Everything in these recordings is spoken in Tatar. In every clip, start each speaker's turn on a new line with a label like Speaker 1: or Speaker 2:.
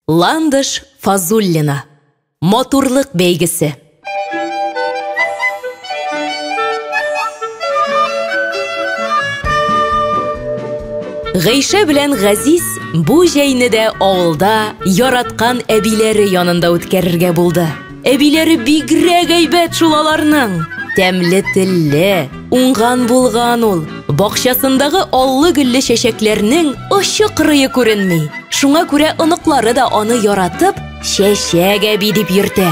Speaker 1: Ландыш Фазуллина. Матурлык бәйгесе. Гайшә белән Газиз бу җәйне дә авылда яраткан әбиләре янында үткәрергә булды. Әбиләре бигрәк әйбәт шул аларның. Тәмле телле, уңган булган ул. Бакчасындагы аллы гөлле чәчәкләрнең очы кырые күренми. Шуңа күрә оныклары да аны яратып, чәчәк әби дип йөртә.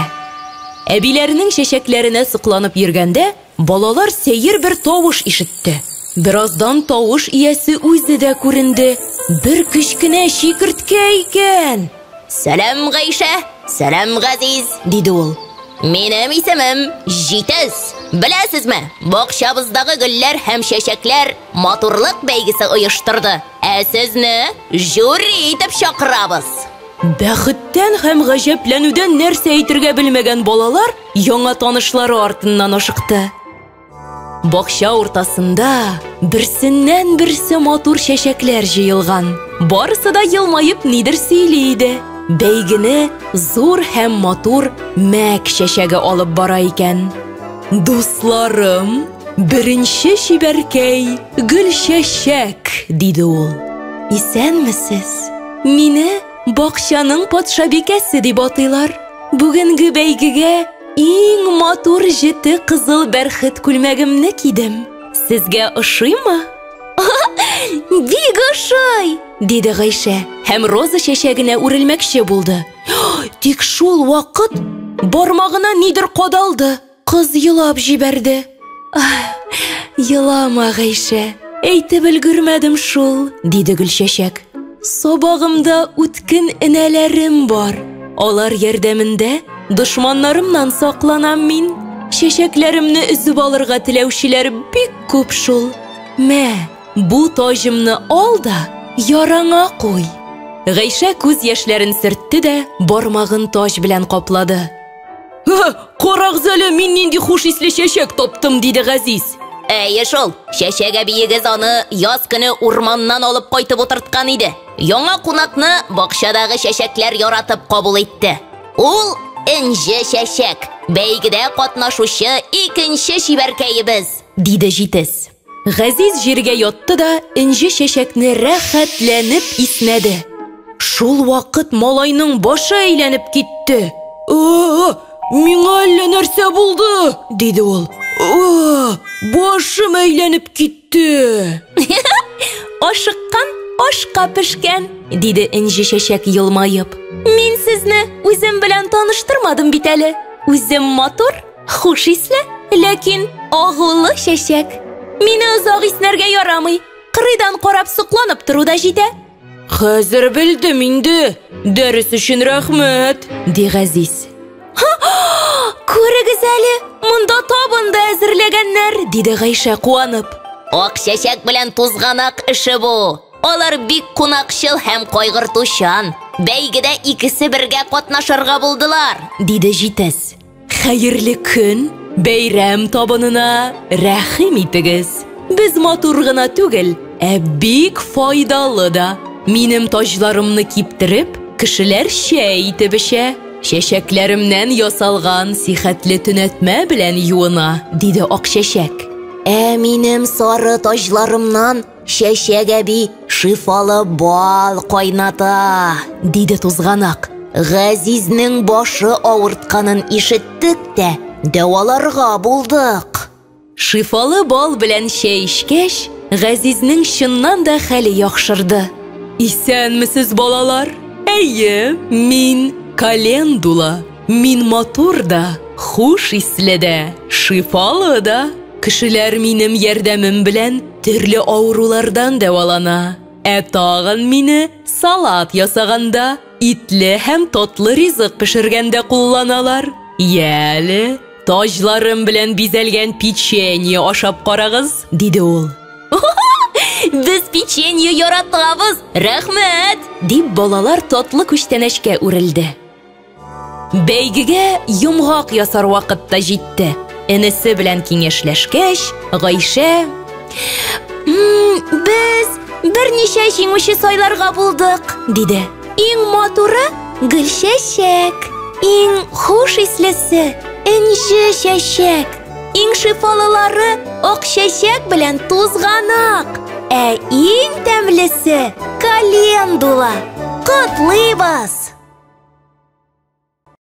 Speaker 1: Әбиләренең чәчәкләренә сокланып йөргәндә, Балалар сәер бер тавыш ишетте. Бераздан тавыш иясе үзе дә күренде. Бер кечкенә чикерткә икән. Сәлам,
Speaker 2: Гайшә! Сәлам, Газиз! диде ул.
Speaker 1: Минем
Speaker 2: исемем Җитез. Беләсезме, бакчабыздагы гөлләр һәм чәчәкләр матурлык бәйгесе оештырды. Ә сезне жюри итеп чакырабыз. Бәхеттән
Speaker 1: һәм гаҗәпләнүдән нәрсә әйтергә белмәгән балалар яңа танышлары артыннан ашыкты. Бакча уртасында берсеннән берсе матур чәчәкләр җыелган. Барысы да елмаеп нидер сөйли иде. Бәйгене зур һәм матур мәк чәчәге алып бара икән. Дусларым, беренче чибәркәй Гөлчәчәк, диде ул. Исәнмесез. Мине Бакчаның патшабикәсе дип атыйлар. Бүгенге бәйгегә иң матур җете кызыл бәрхет күлмәгемне кидем. Сезгә ошыймы?
Speaker 2: Бик ошый! диде Гайшә
Speaker 1: һәм роза чәчәгенә үрелмәкче булды. Тик шул вакыт бармагына нидер кадалды. Кыз елап җибәрде. Елама, Гайшә, әйтеп өлгермәдем шул, диде Гөлчәчәк. Сабагымда үткен энәләрем бар. Алар ярдәмендә дошманнарымнан сакланам мин. Чәчәкләремне өзеп алырга теләүчеләр бик күп шул. Мә, бу таҗымны ал да, яраңа куй. Гайшә күз яшьләрен сөртте дә бармагын таҗ белән каплады. Карагыз әле, мин нинди хуш исле чәчәк таптым, диде Газиз. Әйе шул,
Speaker 2: чәчәк әбиегез аны яз көне урманнан алып кайтып утырткан иде. Яңа кунакны бакчадагы чәчәкләр яратып кабул итте. Ул энҗе чәчәк, бәйгедә катнашучы икенче чибәркәебез, диде җитез.
Speaker 1: Газиз җиргә ятты да энҗе чәчәкне рәхәтләнеп иснәде. Шул вакыт малайның башы әйләнеп китте. О, миңа әллә нәрсә булды, диде ул. О, башым әйләнеп китте. Ашыккан ашка пешкән, диде энҗе чәчәк елмаеп. Мин сезне үзем белән таныштырмадым бит әле. Үзем матур, Хуш исле, ләкин агулы чәчәк. Мине озак иснәргә ярамый. Кырыйдан карап сокланып тору да җитә. Хәзер белдем инде. Дәрес өчен рәхмәт, ди Газиз. Күрегез әле, монда табында әзерләгәннәр, диде Гайшә куанып. Ак чәчәк
Speaker 2: белән тузганак эше бу. Алар бик кунакчыл һәм кайгыртучан. Бәйгедә икесе бергә катнашырга булдылар, диде җитез.
Speaker 1: Хәерле көн, бәйрәм табынына рәхим итегез. Без матур гына түгел, ә бик файдалы да. Минем таҗларымны киптереп, кешеләр чәй итеп эчә. Чәчәкләремнән ясалган сихәтле төнәтмә белән юына, диде Акчәчәк. Ә минем
Speaker 2: сары таҗларымнан Чәчәк әби шифалы бал кайната, диде
Speaker 1: тузганак. Газизнең
Speaker 2: башы авыртканын ишеттек тә, дәваларга булдык. Шифалы
Speaker 1: бал белән чәй эчкәч, Газизнең чыннан да хәле яхшырды. Исәнмесез, балалар! Әйе, мин Календула. Мин матур да, хуш исле дә, шифалы да. Кешеләр минем ярдәмем белән төрле авырулардан дәвалана. Ә тагын мине салат ясаганда, итле һәм татлы ризык пешергәндә кулланалар. Йә әле, таҗларым белән бизәлгән печенье ашап карагыз, диде ул.
Speaker 2: Без печенье яратабыз, рәхмәт! дип балалар
Speaker 1: татлы күчтәнәчкә үрелде. Бәйгегә йомгак ясар вакыт та җитте. Энесе белән киңәшләшкәч, Гайшә
Speaker 2: Без берничә җиңүче сайларга
Speaker 1: булдык,
Speaker 2: диде. Иң матуры
Speaker 1: гөлчәчәк, иң хуш ислесе энҗе чәчәк. Иң шифалылары ак чәчәк белән тузганак. Ә иң тәмлесе календула. Котлыйбыз!